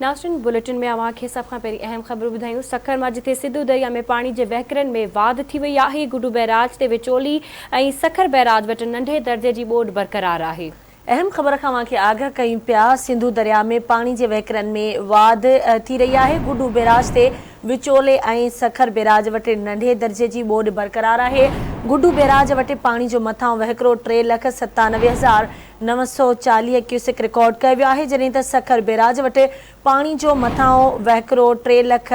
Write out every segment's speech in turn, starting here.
ناشرين bulletin ۾ اوهان کي سڀ کان پهرين اهم خبرون ٻڌايون سکر مان جتي سنڌو درياء ۾ پاڻي جي وهڪرن ۾ واڌ ٿي وئي آهي گڊو بئراج تي وچولي ۽ سکر بئراج وٽ ننڍي درجي جي ٻوڏ برقرار آهي. اهم خبر کان اوهان کي آگاهه ڪيون پيا سنڌو درياء ۾ پاڻي جي وهڪرن ۾ واڌ ٿي رهي آهي گڊو بئراج تي وچولي ۽ سکر بئراج وٽ ننڍي درجي جي ٻوڏ برقرار آهي گڊو بئراج وٽ پاڻي جو مٿاهون وهڪرو ٽي لک ستانوي هزار نو سؤ چاليهه ڪيوسڪ رڪارڊ ڪيو ويو آهي جڏهن ته سکر بيراج وٽ پاڻي جو مٿانهو وهڪرو ٽي لک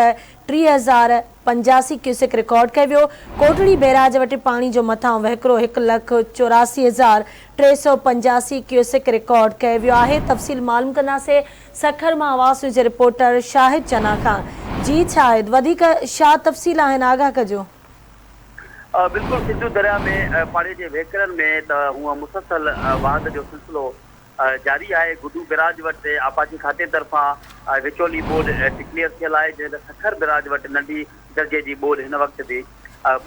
ٽيهه هزار پنجاسي ڪيوسڪ رڪارڊ ڪيو ويو، ڪوٽڙي بيراج وٽ پاڻي جو مٿانهو وهڪرو هڪ لک چوراسي هزار ٽي سؤ پنجاسي ڪيوسڪ رڪارڊ ڪيو ويو آهي تفصيل معلوم ڪنداسين سکر مان عواص نيوز جي رپورٽر شاهد چنا کان جي شاهد وڌيڪ شا تفصيل آهن آگاهه ڪجو. بلڪل سنڌو درياء ۾ پاڙي جي وهڪرن ۾ ته هونئن مسلسل واهند جو سلسلو جاري آهي، گڊو بئراج وٽ آبپاشي کاتي طرفان وچولي ٻوڏ ڊڪليئر ٿيل آهي جڏهن ته سکر بئراج وٽ ننڍي درجي جي ٻوڏ هن وقت به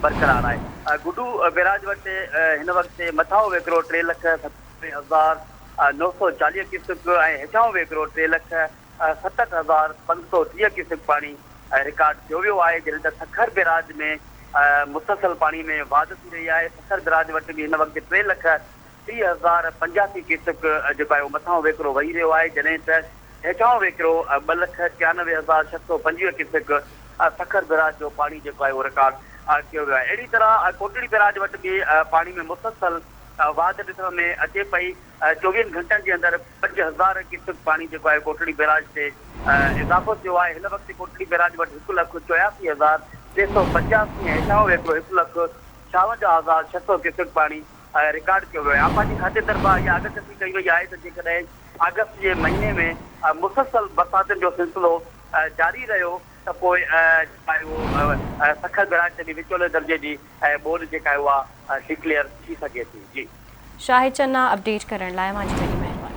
برقرار آهي، گڊو بئراج وٽ هن وقت مٿانهون وهڪرو ٽي لک ستانوي هزار نو سؤ چاليهه ڪيوسڪ ۽ هيٺانهون وهڪرو ٽي لک ستهٺ هزار پنج سؤ ٽيهه ڪيوسڪ پاڻي رڪارڊ ٿيو ويو آهي جڏهن ته سکر بيراج ۾ مسلسل پاڻي ۾ واڌ ٿي رهي آهي سکر بيراج وٽ به هن وقت ٽي لک ٽيهه هزار پنجاسي ڪيوسڪ جيڪو آهي اهو مٿانهون وهڪرو وهي رهيو آهي جڏهن ته هيٺانهون وهڪرو ٻه لک ٽيانوي هزار ڇهه سؤ پنجويهه ڪيوسڪ سکر بيراج جو پاڻي جيڪو آهي اهو رڪارڊ ٿيو ويو آهي اهڙي طرح ڪوٽڙي بيراج وٽ به پاڻي ۾ مسلسل واڌ ڏسڻ ۾ اچي پئي. چوويهن گهنٽن جي اندر پنج هزار ڪيوسڪ پاڻي جيڪو آهي ڪوٽڙي بيراج تي اضافو ٿيو آهي هن وقت ڪوٽڙي بيراج وٽ هڪ لک چوياسي هزار ٽي سؤ پنجاسي ۽ هيٺاهون ويڪرو هڪ لک ڇاونجاهه هزار ڇهه سؤ ڪيوسڪ پاڻي رڪارڊ ڪيو ويو آهي آبپاشي کاتي طرفان اها آگاهڪشي ڪئي وئي آهي ته جيڪڏهن آگسٽ جي مهيني ۾ مسلسل برساتن جو سلسلو جاري رهيو ته پوء جيڪو آهي اهو سکر بيراج تي به وچولي درجي جي ۽ ٻوڏ جيڪا آهي اها Declare ٿي سگهي ٿي جي. شاهد چنا اپڊيٽ ڪرڻ لاء اوهان جي وڏي مهرباني.